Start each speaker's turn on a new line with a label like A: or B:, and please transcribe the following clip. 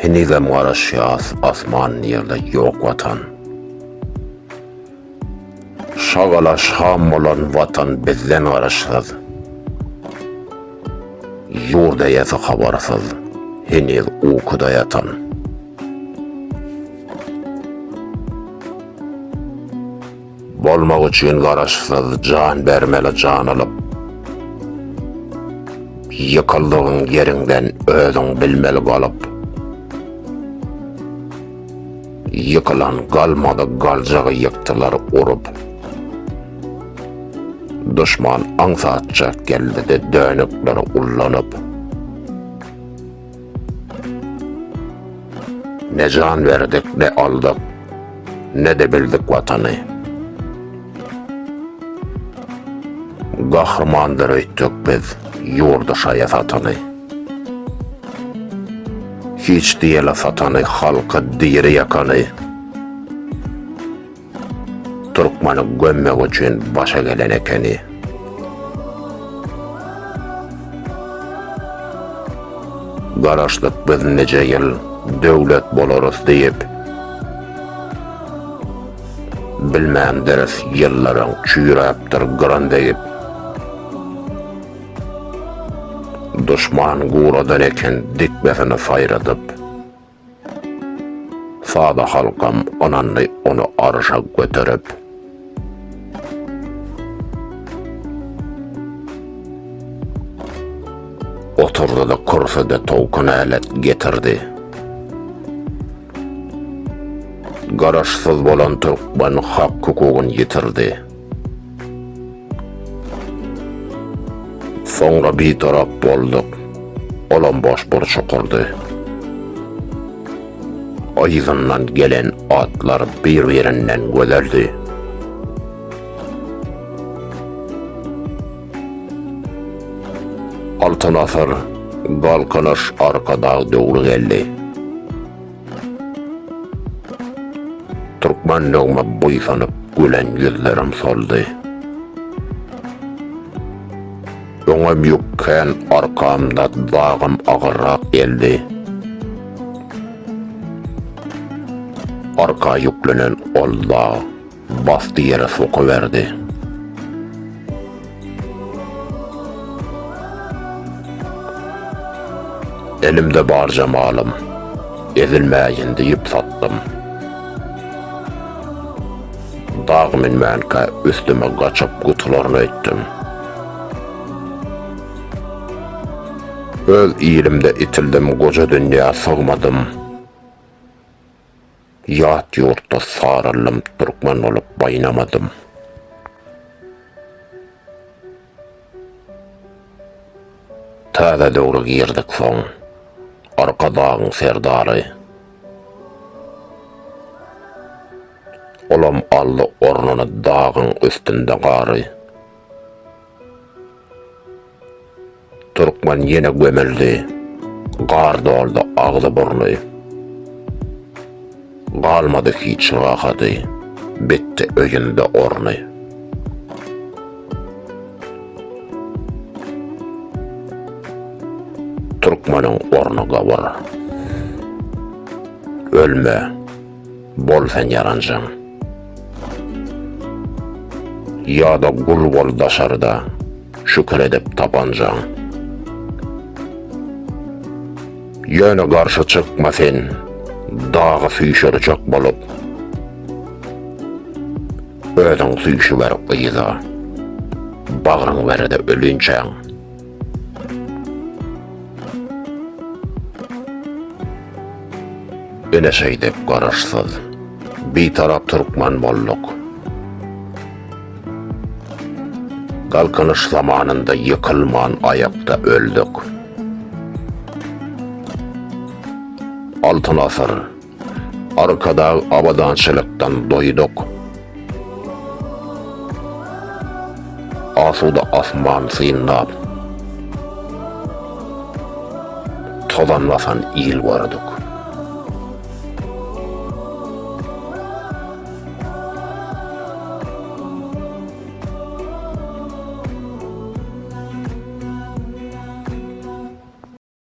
A: Henizem garaşýas asman ýerde ýok watan. Şagala şam bolan watan bizden garaşsyz. Ýurt eýesi habarsyz heniz ukuda ýatan. Bolmak üçin garaşsyz jan bermeli jan alyp Ýykyldygyň ýeriňden özüň bilmeli galyp Ýykylan galmady galjagy ýykdylar urup Duşman aňsatjak geldi-de dönükleri ullanyp. Ne jan berdik, ne aldyk, ne-de bildik Watany. Gahrymandyr öýtdük biz ýurdy şaýa satany. Hiç diýeli satany, halky diri ýakany. Türkmeni gömmek üçin başa gelen ekeni. Garaşdyk biz nije ýyl döwlet bolarys diýip. Bilmändiris ýyllaryň çüýräpdir gyran degip. Duşman guradan eken dikmesini saýradyp. Sada halkam ynandy ony arşa göterip. Oturdy-da kürsüde towkun älet getirdi. Garaşsyz bolan türkmen hak-hukugyny ýitirdi. Soňra bitarap bolduk. Olam boş burç okurdy. Yzyndan gelen atlar bir-birinden gözeldi. Altyn asyr, galkynyş Arkadag döwri geldi. Türkmenligime buýsanyp gülen ýüzlerim soldy. Öňem ýük kän arkamda dagym agyrrak geldi. Arka ýüklenen ol dag. Basdy ýere sokaberdi. Elimde barja malym. Ezilmäýin diýip satdym. Dag münmänkä üstüme gaçyp gutularyn öýtdüm. Öz ilimde itildim goja dünýä sygmadym. Ýat ýurtda saraldym türkmen bolup baýnamadym. Täze döwre girdik soň Arkadagyň serdary. Olam aldy ornuny dagyň üstünde gary. Türkmen ýene gömüldi. Gar doldy agzy-burny. Galmady hiç rahady. Bitdi öýünde orny. Türkmeniň orny gabur. Ölme. Bol sen ýaranjaň. Ýa-da gul bol daşarda, Şükür edip tapanjaň. Ýöne garşy çykma sen, Dagy süýşürjek bolup, Özüň süýşüber gyza, Bagryň ber-de ölinçäň. Ine şeýdip garaşsyz, bitarap türkmen bolduk. Galkynyş zamanynda ýykylman aýakda öldük. Altyn asyr, Arkadag abadançylykdan doýduk. Asuda asman synlap. Tozan basan il gördük.